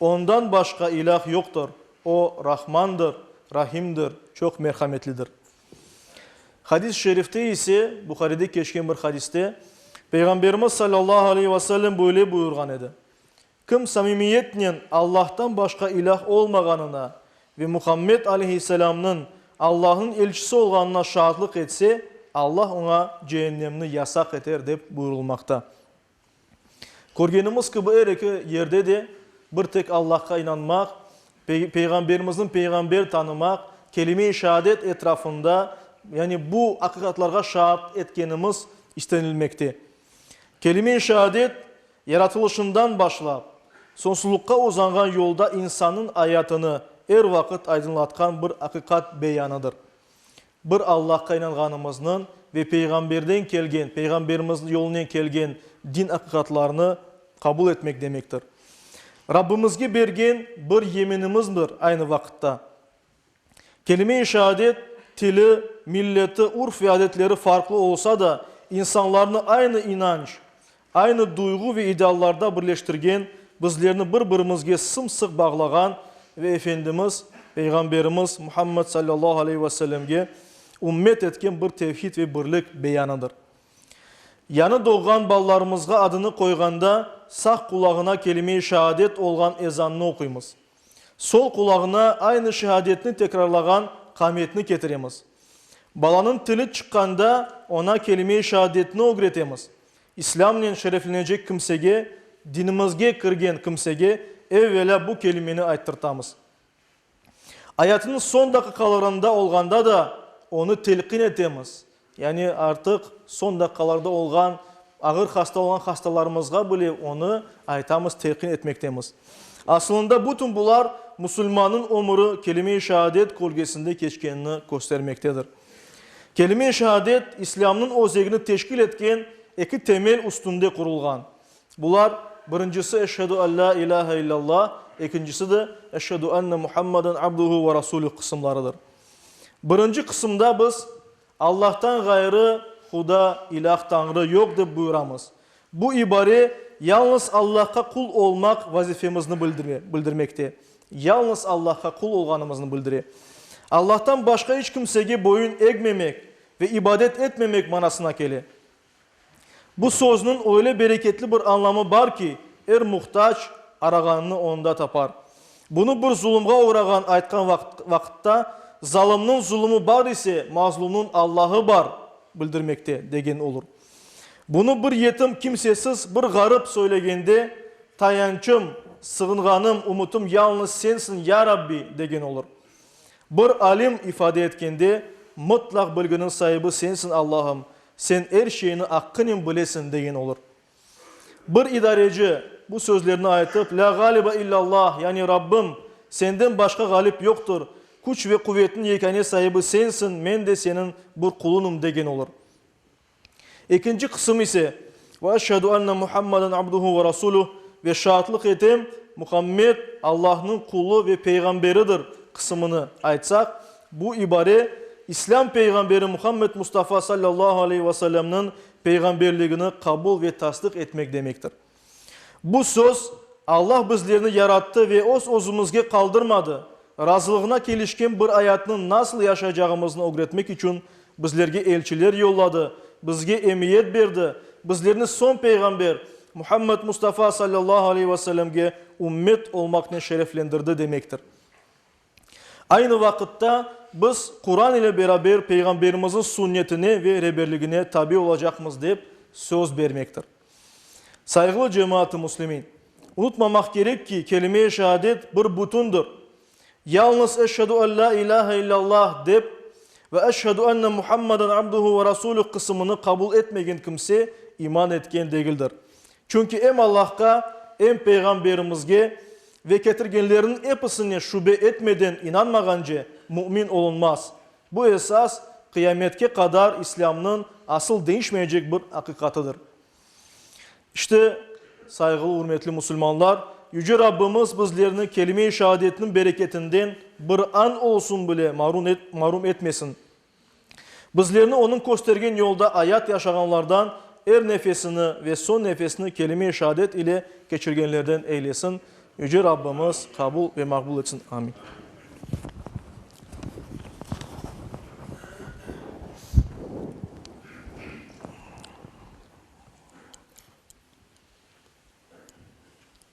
Ondan başqa ilâh yoqtır, O, Rahmandır, Rahimdir, çoq merhametlidir. Hadis-i şerifte ise, Buharide keçken bir hadiste, Peyğamberimiz sallallahu aleyhi ve sellem böyle buyurğan edi, Kim samimiyetnen Allahtan başqa ilâh olmağanına ve Muhammed aleyhisselamnıñ Allahnıñ elçisi olğanına şaatlıq etse, Allah oña ceennemni yasaq eter, dep buyurılmaqta. Körgenimiz kibi, er eki yerde de bir tek Allahqa inanmaq, Peyğamberimizniñ peyğamber tanımaq, kelime-i şaadet etrafında, yani bu aqiqatlarğa şaat etkenimiz istenilmekte. Kelime-i şaadet, yaratılışından başlap, sonsuzluqqa uzanğan yolda insannıñ ayatını er vaqıt aydınlatqan bir aqiqat beyanıdır. Bir Allahqa inanğanımıznı ve Peyğamberden kelgen, Peyğamberimizniñ yolunen kelgen din aqiqatlarını qabul etmek demektir. Rabbimizge bergen bir yeminimizmdir aynı vaqıtta. Kelime-i şaadet, tili, milleti, urf ve adetleri farqlı olsa da, insanlarnı aynı inanç, Aynı duyğu ve ideallarda birleştirgen, bizlerni bir-birimizge sım-sıq bağlağan ve Efendimiz Peyğamberimiz Muhammed sallallahu aleyhi ve sellemge ümmet etken bir tevhid ve birlik beyanıdır. Yanı doğğan balalarımızğa adını qoyğanda sağ qulağına kelime-i şaadet olğan ezannı oquymız. Sol qulağına aynı şeadetni tekrarlağan qametni ketiremiz. Balanıñ tili çıqqanda, oña kelime-i şaadetni ögretemiz. İslâmnen şereflenecek kimsege, dinimizge kirgen kimsege evvelâ bu kelimeni ayttırtamız. Ayatınıñ soñ daqiqalarında olğanda da onı telqin etemiz, yani artıq soñ daqiqalarda olğan, ağır hasta olğan hastalarımızğa bile onı aytamız, telqin etmektemiz. Asılında bütün bular, musulmannıñ ömüri kelime-i şaadet kölgesinde keçkenini köstermektedir. Kelime-i şehadet İslâmnıñ özegini teşkil etken eki temel üstünde qurulğan. Bular, birincisi Eşhedü en la ilâhe illâllah, ekincisi de Eşhedü enne Muhammeden abduhu ve rasulüh qısımlarıdır. Birinci qısımda biz Allahtan ğayrı huda, ilâh, tañrı, yoq dep buyuramız. Bu ibare yalnız Allahqa qul olmaq vazifemizni bildire, bildirmekte. Yalnız Allahqa qul olğanımıznı bildire. Allahtan başqa iç kimsege boyun egmemek ve ibadet etmemek manasına kele. Bu sözniñ öyle bereketli bir anlamı bar ki, er muhtac arağanını onda tapar. Bunı bir zulumğa uğrağan aytqan vaqıt, vaqıtta, Zalımnıñ zulumı bar ise, mazlumnıñ Allahı bar, bildirmekte, degen olur. Bunı bir yetim, kimsesiz, bir ğarip söylegende, Tayançım, sığınğanım, ümütim yalnız Sensiñ, ya Rabbi! degen olur. Bir alim ifade etkende, Mıtlaq bilginiñ saibi Sensiñ, Allahım, Sen er şeyni aqqınen bilesiñ, degen olur. Bir idareci, bu sözlerni aytıp, La ğaliba illallah, yani Rabbim, Senden başqa ğalip yoqtır, küç ve quvetniñ yekâne saibi Sensiñ, men de Seniñ bir qulunım, degen olur. Ekinci qısım ise, Ve eşhedü enne Muhammaden abduhu ve rasulüh, ve şaatlıq etem, Muhammed, Allahnıñ qulu ve peyğamberidir, qısımını aytsaq, bu ibare İslâm peyğamberi Muhammed Mustafa sallallahu aleyhi ve sellemniñ peyğamberligini qabul ve tasdıq etmek demektir. Bu söz, Allah bizlerni yarattı ve öz-özümizge qaldırmadı, razılığına kelişken bir ayatnı nasıl yaşaycağımıznı ögretmek içün bizlerge elçiler yolladı, bizge emiyet berdi, bizlerni soñ Peyğamber, Muhammed Mustafa sallallahu aleyhi ve sellemge ümmet olmaqnen şereflendirdi demektir. Aynı vaqıtta, biz Quran ile beraber Peyğamberimizin sünnetine ve reberligine tabi olacaqmız dep söz bermektir. Sayğılı cemaat-ı muslimin! Unutmamaq kerek ki, kelime-i şeadet bir bütündir. Yalnız Eşhedü en la ilâhe illallah dep ve Eşhedü enne Muhammeden abduhu ve rasulüh qısımını qabul etmegen kimse iman etken degildir. Çünki em Allahqa, em Peyğamberimizge ve ketirgenlerniñ episine şübe etmeden inanmağance mümin olunmaz. Bu esas, qıyametke qadar İslâmnıñ asıl deñişmeycek bir aqiqatıdır. İşte, sayğılı, ürmetli musulmanlar, Yüce Rabbimiz bizlerni kelime-i şeadetniñ bereketinden bir an olsun bile marum etmesin! Bizlerni onıñ köstergen yolda ayat yaşağanlardan er nefesini ve soñ nefesini kelime-i şaadet ile keçirgenlerden eylesin, Yüce Rabbimiz qabul ve maqbul etsin. Amin.